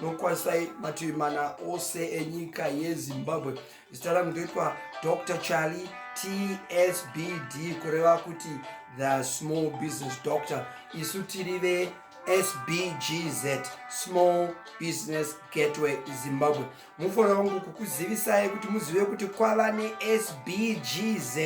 nokwanisai mativi mana ose enyika yezimbabwe zita rangu ndoitwa dr charlie tsbd kureva kuti the small business doctor isu tiri ve sbgz small business gateway zimbabwe mufanira wangu kukuzivisai kuti muzive kuti kwava nesbgz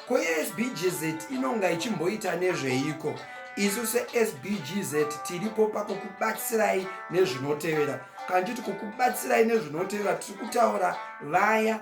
ko sbgz inonga ichimboita nezveiko isu sesbgz tiripo pakukubatsirai nezvinotevera kana titi kukubatsirai nezvinotevera tiri kutaura vaya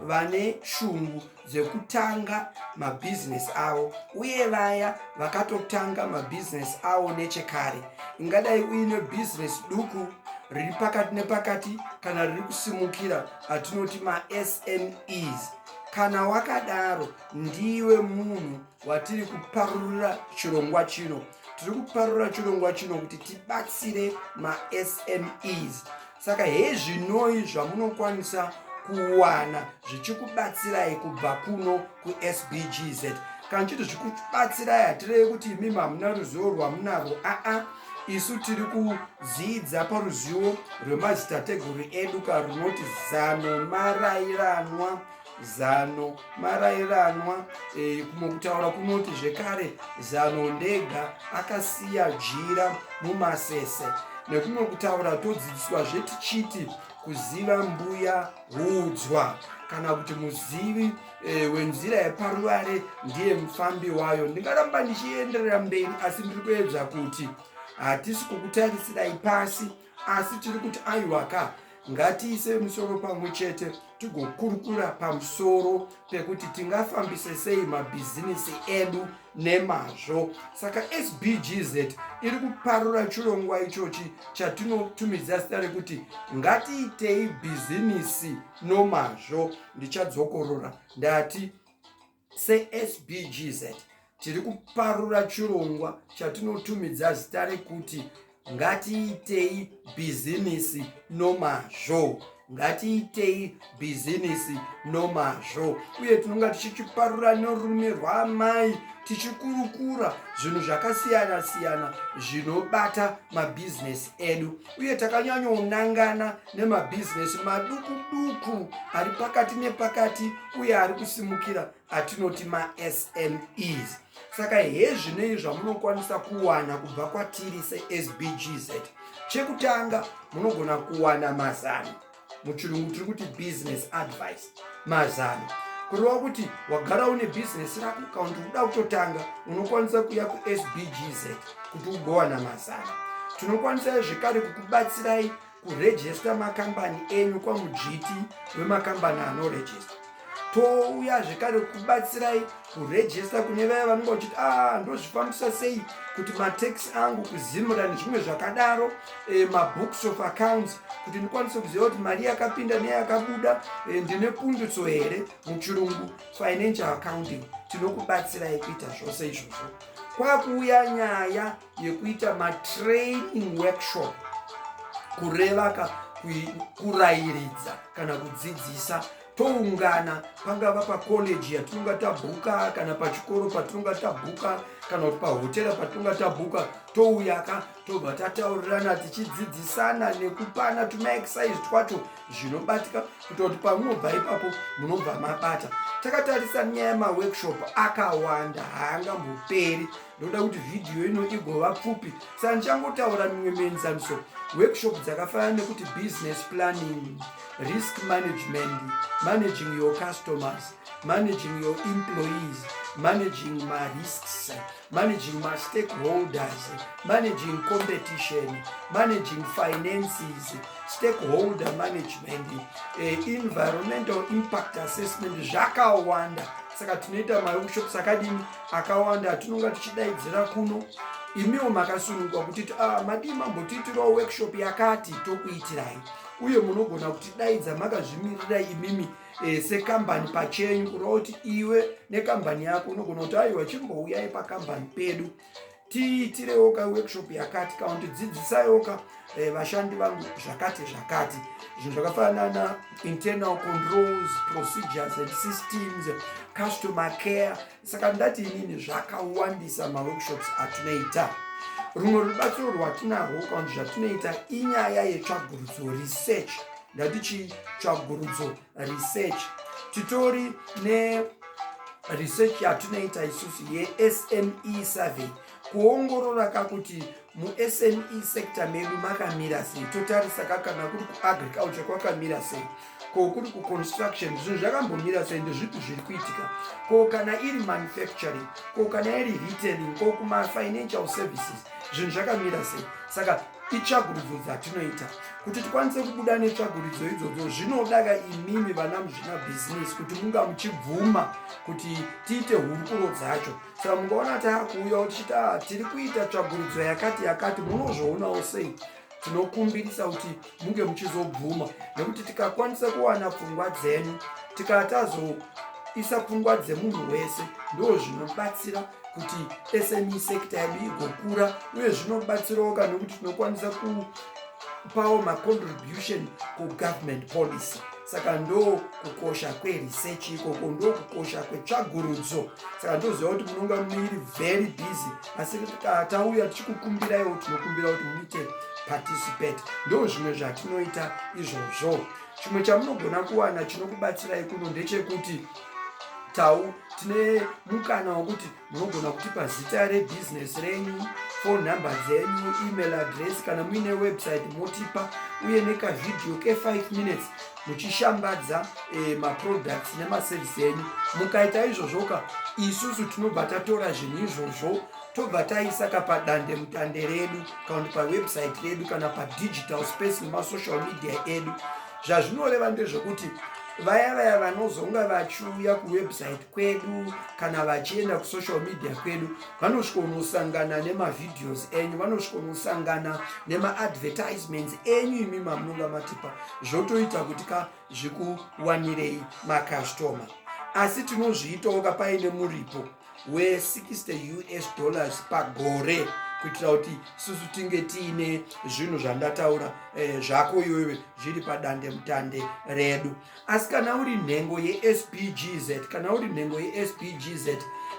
vane shungu dzekutanga mabhizinesi avo uye vaya vakatotanga mabhizinesi avo nechekare ingadai uine bhizinesi duku riri pakati nepakati kana riri kusimukira atinoti masmes kana wakadaro ndiwe munhu watiri kuparurira chirongwa chino tiri kuparurira chirongwa chino kuti tibatsire masmes saka hezvinoi zvamunokwanisa kuwana zvichikubatsirai kubva kuno kusbgz kana chiti zvikubatsirai hatirevi kuti imimi hamuna ruzivo rwamunarwo aa isu tiri kudzidza paruzivo rwemadzitateguru edu ka runoti zano marairanwa zano marairanwa e, kumwe kutaura kunoti zvekare zano ndega akasiya jira mumasese nekumwe kutaura todzidziswa zvetichiti kuziva mbuya hudzwa kana kuti muzivi e, wenzira yeparuvare ndiye mufambi wayo ndingaramba ndichienderera mberi asi ndiri kuedza kuti hatisi kukutarisirai pasi asi tiri kuti aiwaka ngatiise musoro pamwe chete tigokurukura pamusoro pekuti tingafambise sei mabhizinisi edu nemazvo saka sbgz iri kuparura chirongwa ichochi chatinotumidza zita rekuti ngatiitei bhizinisi nomazvo ndichadzokorora ndati sesbgz tiri kuparura chirongwa chatinotumidza zita rekuti ngatiitei bhizimisi nomazvo ngatiitei bhizinisi nomazvo uye tinonga tichichiparura norume rwaamai tichikurukura zvinhu zvakasiyana siyana zvinobata mabhizinesi edu uye takanyanyonangana nemabhizinesi maduku duku ari pakati nepakati uye ari kusimukira atinoti masmes saka hezvinei zvamunokwanisa kuwana kubva kwatiri sesbgz chekutanga munogona kuwana mazano muchirungu tiri kuti business advice mazano kureva kuti wagara une bhizinesi rako kana kuti uda kutotanga unokwanisa kuya kusbgz kuti ugowana mazano tinokwanisai zvekare kukubatsirai kurejesta makambani enyu kwamudzviti wemakambani anorejesta touya zvekare kubatsirai kurejesta kune vaya vanenge vachiti a ah, ndozvifambisa sei kuti matax angu kuzimura nezvimwe zvakadaro e, mabooks of accounts kuti ndikwanise kuziva kuti mari yakapinda neyakabuda e, ndine pundutso here muchirungu financial accounting tinokubatsirai kuita zvose izvozvo kwakuuya nyaya yekuita matraining workshop kureva ka kurayiridza kana kudzidzisa toungana pangava pakoleji yatinonga tabhuka kana pachikoro patinonga tabhuka kana kuti pahotera patinonga tabhuka touyaka tobva tataurirana tichidzidzisana nekupana tumaexercise twacho zvinobatika kuita kuti pamunobva ipapo munobva mabata takatarisa nyaya yemaworkshop akawanda haangamboperi ndoda kuti vhidhiyo ino igova pfupi sa ndichangotaura mimwe mienzaniso workshop dzakafanana nekuti business planning risk management managing your customers managing your employees managing marisks managing mastakeholders managing competition managing finances stakeholder management eh, environmental impact assessment zvakawanda saka tinoita maworkshops akadini akawanda atinonga tichidaidzira kuno imiwo makasunungwa kuti ah, madii mambotiitirawo workshop yakati tokuitirai uye munogona kutidaidza makazvimirira imimi eh, sekambani pachenyu kureva kuti iwe nekambani yako unogona kuti aiwa chimbouyai pakambani pedu tiitirewoka workshop yakati kana kuti dzidzisayoka eh, vashandi vangu zvakati zvakati zvinhu zvakafanana internal controls procedures and systems customer care saka ndati inini zvakawandisa maworkshops atinoita rumwe rubatsiro rwatinarwo kana kuti zvatinoita inyaya yetsvagurudzo research ndatichi tsvagurudzo research titori ne research yatinoita isusu yesme survey kuongorora ka kuti musme sector medu makamira sei totarisa ka kana kuri kuagriculture kwakamira sei ko kuri kuconstruction zvinhu zvakambomira sei ndezvipi zviri kuitika ko kana iri manufacturing ko kana iri retailing ko kumafinancial services zvinhu zvakamira sei saka itsvagurudzo dzatinoita kuti tikwanise kubuda netsvagurudzo idzodzo zvinodaka imimi vana muzvinabhizinesi kuti munga muchibvuma kuti tiite hurukuro dzacho saka mungaona taakuuyawo tichiti a ah, tiri kuita tsvagurudzo yakati yakati munozvoonawo sei tinokumbirisa kuti munge muchizobvuma nekuti tikakwanisa kuwana pfungwa dzenyu tikatazoisa pfungwa dzemunhu wese ndo zvinobatsira kuti sme sector yedu igokura uye zvinobatsirawo ka nokuti tinokwanisa kupawo macontribution kugovernment policy saka ndo kukosha kweresearch ikoko ndo kukosha kwetsvagurudzo saka ndoziva kuti munonga muiri very busy asi tauya tichikukumbiraiwo tinokumbira kuti muite participate ndo zvimwe zvatinoita izvozvo chimwe chamunogona kuwana chinokubatsirai kuno ndechekuti tau tine mukana wokuti munogona kutipa zita rebhizinesi renyu phone number dzenyu email address kana muine website motipa uye nekavhidhiyo ke5 minutes muchishambadza eh, maproducts nemaservice enyu mukaita izvozvoka isusu tinobva tatora zvinhu izvozvo tobva taisa ka padande mutande redu kana kuti pawebsite redu kana padigital space nemasocial media edu zvazvinoreva ndezvekuti vaya vaya vanozonga vachiuya kuwebsite kwedu kana vachienda kusocial media kwedu vanosvikonosangana nemavideos enyu vanosvikonosangana nemaadvertisements enyu imi mamunonga matipa zvotoita kuti ka zvikuwanirei makastoma asi tinozviitawo ka paine muripo we60 us dollars pagore kuitira kuti susu tinge tiine zvinhu zvandataura eh, zvako iwewe zviri padande mutande redu asi kana uri nhengo yespgz kana uri nhengo yespgz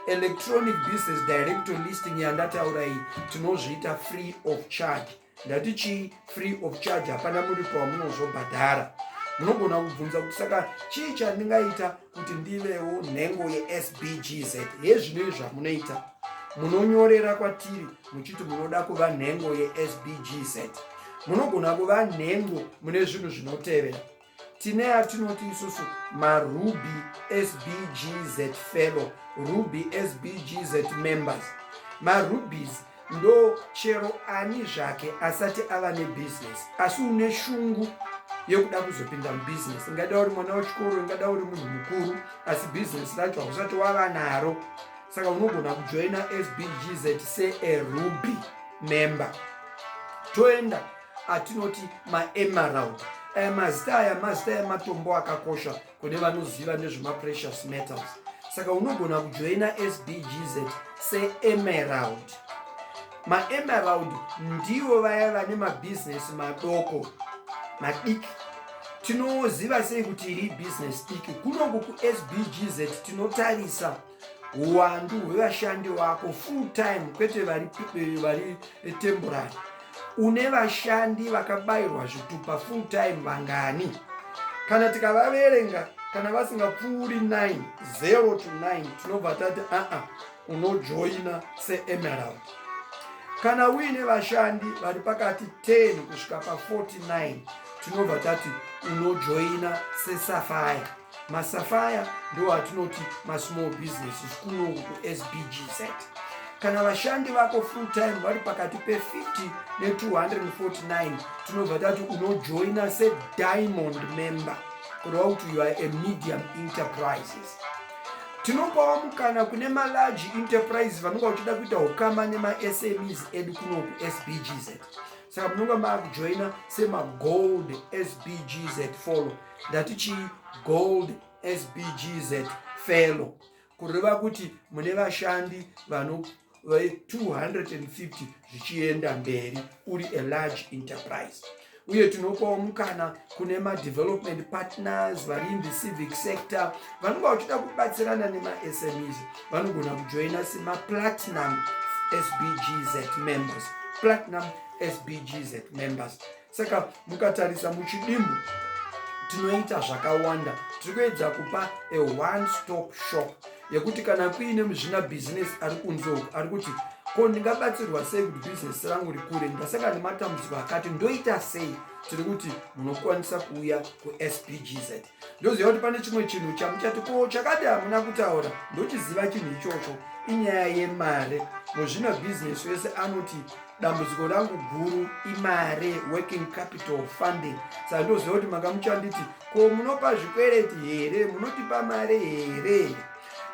electronic business director listing yandataura iyi tinozviita free of charge ndati chii free of charge hapana muripo wamunozobhadhara munogona kubvunza kuti saka chii chandingaita kuti ndivewo nhengo yesbgz hezvinoi zvamunoita munonyorera kwatiri muchiti munoda kuva nhengo yesbgz munogona kuva nhengo mune zvinhu zvinotevera tine atinoti isusu maruby sbgz fellow ruby sbgz members marubys ndo chero ani zvake asati ava nebusiness asi une shungu yekuda kuzopinda mubusiness ingada uri mwana wechikoro ingada uri munhu mukuru asi business racho hausati wava naro saka unogona kujoina sbgz searuby member toenda atinoti maemerald aya mazita aya mazita ematombo akakosha kune vanoziva nezvemaprecious metals saka unogona kujoina sbgz seemerald maemerald ndivo vaya vane mabhizinesi madoko madiki tinoziva sei kuti iri bhizinesi diki kunoku kusbgz tinotarisa huwandu hwevashandi vako full time kwete vari, eh, vari eh, temporary une vashandi vakabayirwa zvitupa full time vangani kana tikavaverenga kana vasingapfuuri 9 0 to 9 tinobva tati aa unojoina seemerald kana uine vashandi vari pakati 10 kusvika pa 49 tinobva tati unojoina sesafire masafaya ndiwo atinoti masmall business zvikuno kusbgz kana vashandi vako full time vari pakati pe50 ne249 tinobva tati unojoina sediamond member kureva kuti you are a medium enterprises tinopawo mukana kune malarge enterprise vanonga uchida kuita ukama nemasmes edu kuno kusbgz saka munonga maakujoina semagold sbgz follow ndati chi gold sbgz fellow kureva kuti mune vashandi vano 250 zvichienda mberi uri a large enterprise uye tinopawo mukana kune madevelopment partners vari in the civic sector vanenge vachida kubatsirana nemasmes vanogona kujoina semaplatinum sbgz members platinum sbgz members saka mukatarisa muchidimbu tinoita zvakawanda tiri kuedza kupa a one stop shop yekuti kana kuine muzvina bhizinesi ari kunze uku ari kuti ko ndingabatsirwa sei kuti bhizinesi rangu rikure ndasaka nematambudziko akati ndoita sei tiri kuti munokwanisa kuuya kusbgz ndoziva kuti pane chimwe chinhu chamuchati ko chakadi hamuna kutaura ndochiziva chinhu ichocho inyaya yemari muzvina bhizinesi wese anoti dambudziko rangu guru imari working capital funding saka ndoziva kuti makamuchanditi ko munopa zvikwereti here munotipa mari here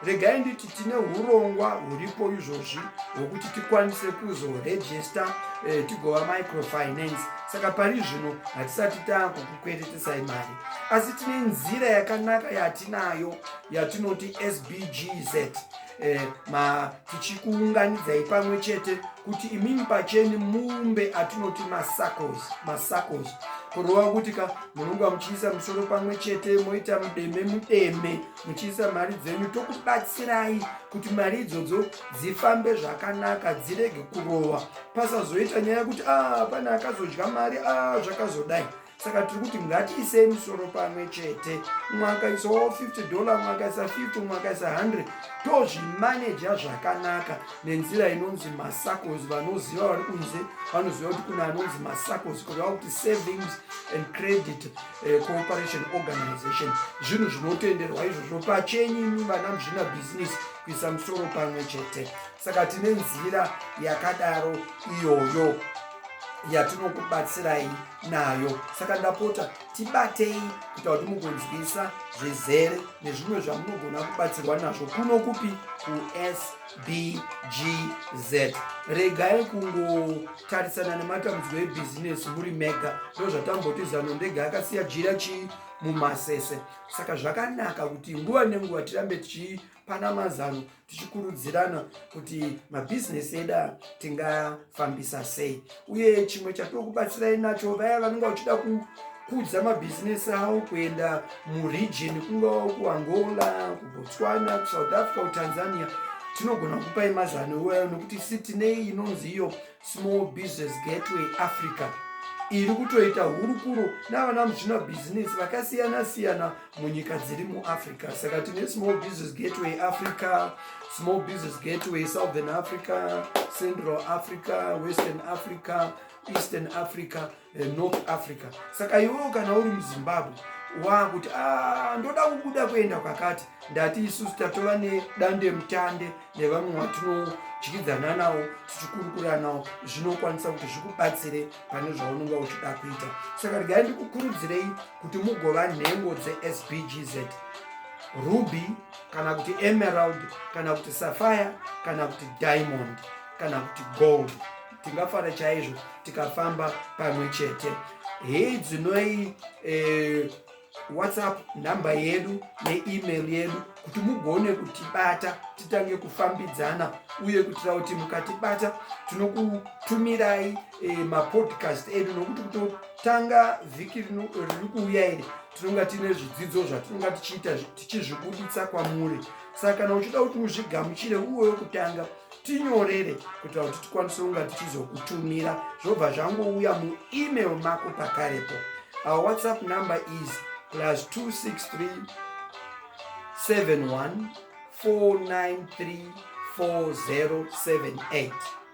regai nditi tine urongwa huripo izvozvi hwekuti tikwanise kuzorejista eh, tigova microfinance saka pari zvino hatisati taakukukweretesai mari asi tine nzira yakanaka yatinayo yatinoti sbgz eh, ma tichikuunganidzai pamwe chete kuti imimi pacheni mumbe atinoti masacos masacos kurova kuti ka munonga muchiisa musoro pamwe chete moita mudeme mudeme muchiisa mari dzenyu tokubatsirai kuti mari idzodzo dzifambe zvakanaka dzirege kurova pasazoita nyaya yekuti a ah, pane akazodya mari a ah, zvakazodai saka tiri kuti ngatiisei musoro pamwe chete umwe akaisa wo 50 dollar umwe akaisa 50 umwe akaisa 100 tozvimaneja zvakanaka nenzira inonzi masacos vanoziva vari kunze vanoziva kuti kune anonzi masacos kureva kuti savings and credit eh, cooperation organization zvinhu zvinotenderwa izvozvo pachenyu vana muzvina bhizinesi kuisa musoro pamwe chete saka tine nzira yakadaro iyoyo yatinokubatsirai nayo saka ndapota tibatei kuita kuti mugonzwisa zvizere nezvimwe zvamunogona kubatsirwa nazvo kuno kupi kusa bgz regai kungotarisana nematambudziko ebhizinesi muri mega ndozvatamboti zano ndega akasiya jira chii mumasese saka zvakanaka kuti nguva nenguva tirambe tichipana mazano tichikurudzirana kuti mabhizinesi eda tinga fambisa sei uye chimwe chatiri kubatsirai nacho vaya vanenge vachida kukudza mabhizinesi avo kuenda muregion kungava kuangola kubotswana kusouth africa kutanzania tinogona kupai mazano iwayo nokuti si tine inonzi iyo small business gateway africa iri kutoita hurukuro navana muzvina bhizinesi vakasiyana siyana munyika dziri muafrica saka tine small business gateway africa small business gateway southern africa central africa western africa eastern africa eh, north africa saka iwewo kana uri muzimbabwe waakuti ah, ndoda kubuda kuenda kwakati ndati isusu tatova nedande mutande nevamwe watinodyidzana nawo tichikurukura nawo zvinokwanisa kuti zvikubatsire pane zvaunonga uchida kuita saka regai ndikukurudzirei kuti mugova nhengo dzesbgz ruby kana kuti emerald kana kuti safire kana kuti diamond kana kuti gold tingafara chaizvo tikafamba pamwe chete hei dzinoi eh, whatsapp nhamba yedu neemail yedu kuti mugone kutibata titange kufambidzana uye kuitira kuti mukatibata tinokutumirai eh, mapodcast edu nokuti kutotanga vhiki rino riri kuuya iri tinonga tiine zvidzidzo zvatinonga tichiita tichizvibuditsa kwamuri saka kana uchida kuti uzvigamuchire uwe wekutanga tinyorere kuitira kuti tikwanise kunga tichizokutumira zvobva zvangouya muemail mako pakarepo our whatsapp number is plus 263 71 493 4078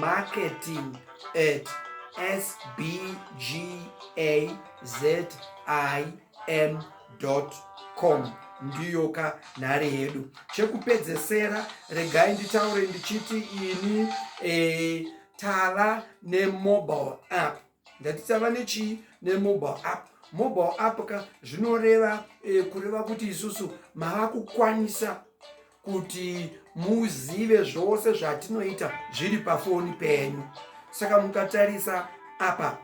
marketing at sbgazim.com ndiyo ka nhare yedu chekupedzesera regai nditaure ndichiti ini e, tava nemobile app ndati tava nechii nemobile app mobile app ka zvinoreva e, kureva kuti isusu mava kukwanisa kuti muzive zvose zvatinoita zviri pafoni penyu saka mukatarisa apa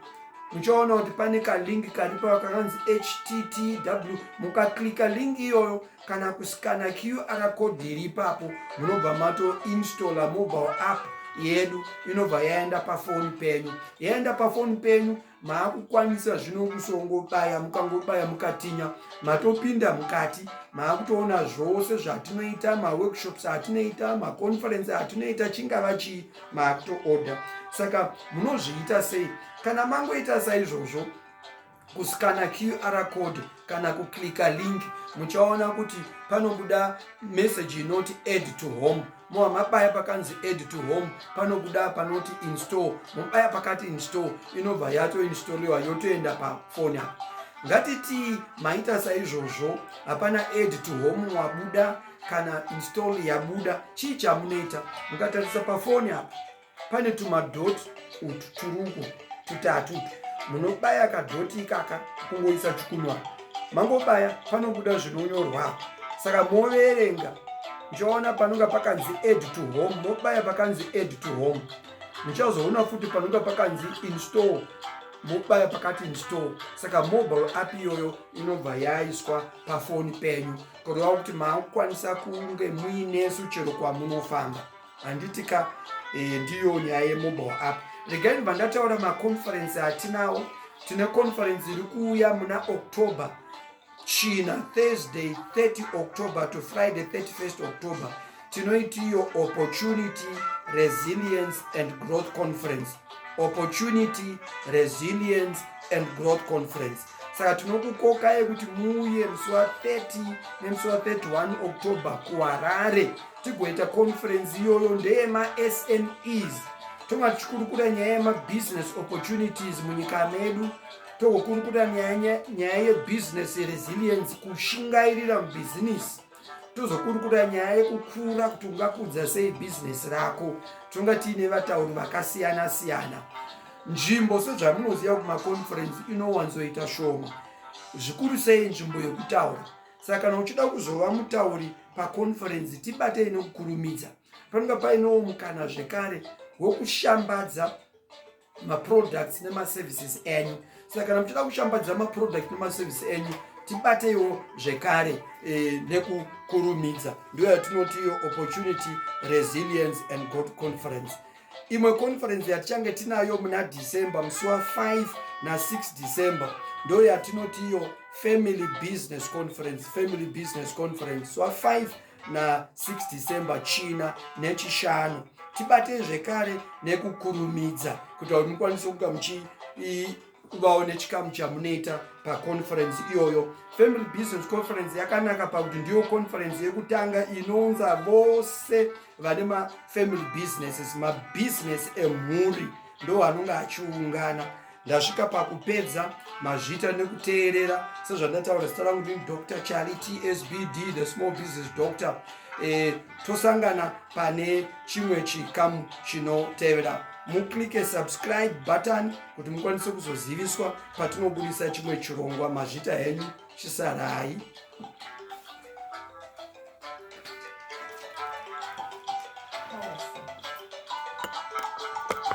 muchaona kuti pane kalink karipo kakanzi httw mukaklika link iyoyo kana kuskana qr code iri ipapo munobva matoinstalla mobile app yedu inobva yaenda pafoni penyu yaenda pafoni penyu maakukwanisa zvino kusongobaya mukangobaya mukatinya matopinda mukati maakutoona zvose zvatinoita maworkshops atinoita maconference atinoita chingava chii maakutoorder saka munozviita sei kana mangoita saizvozvo kuskana qr code kana kuklika link muchaona kuti panobuda message inoti add to home moa mabaya pakanzi add to home panobuda panoti install mobaya pakati install inobva yatoinstoliwa yotoenda pafoni apa ngatitii maita saizvozvo hapana add to home wabuda kana install yabuda chii chamunoita mukatarisa pafoni apa pane tumadhoti utu turuko tutatu utu munobaya kadhoti ikaka kungoisa chikunwa mangobaya panobuda zvinonyorwa saka moverenga muchaona panonga pakanzi add to home mobaya pakanzi add to home muchazoona futi panonga pakanzi install mobaya pakati install saka mobile app iyoyo inobva yaiswa pafoni penyu kureva kuti maakukwanisa kunge muinesu chero kwamunofamba handiti ka eh, ndiyo nyaya yemobile app regai ndibva ndataura maconferensi atinawo tine conferensi iri kuuya muna october china thursday 30 october to friday 31 october tinoitiyo opportunity resilience and growth conference opportunity resilience and growth conference saka tinokukokai kuti muuye musi wa 30 nemusi wa 31 october kuharare tigoita conferensi iyoyo ndeyemaSMEs tonga tichikurukura nyaya yemabusiness opportunities munyika medu togokurukura nyaya yebusiness resilience kushingairira mubhizinisi tozokurukura nyaya yekukura kuti ungakudza sei bhizinesi rako tonga tiine vatauri vakasiyana siyana nzvimbo sezvamunoziva kuti maconferensi inowanzoita shoma zvikuru sei nzvimbo yekutaura saka kana uchida kuzova mutauri paconferensi tibatei nokukurumidza panonga painewo mukana zvekare wokushambadza maproducts nemaservices enyu saka kana muchida kushambadza maproduct nemaservice enyu tibateiwo zvekare e, nekukurumidza ndiyo yatinoti iyo opportunity resilience and god conference imwe conference yatichange tinayo muna december musi wa 5 na6 december ndo yatinoti iyo family business conference family business conference wa 5 na6 december china nechishanu tibatei zvekare nekukurumidza kuita kuti mukwanise kuga muchivawo nechikamu chamunoita paconference iyoyo family business conference yakanaka pakuti ndiyo conference yekutanga inounza vose vane mafamily businesses mabusiness emhuri ndo anonge achiungana ndasvika pakupedza mazvita nekuteerera sezvandataura zita rangu ndini dr charlie tsbd the small business doctor e, tosangana pane chimwe chikamu chinotevera muclike subscribe button kuti mukwanise kuzoziviswa patinobudisa chimwe chirongwa mazvita henyu chisarai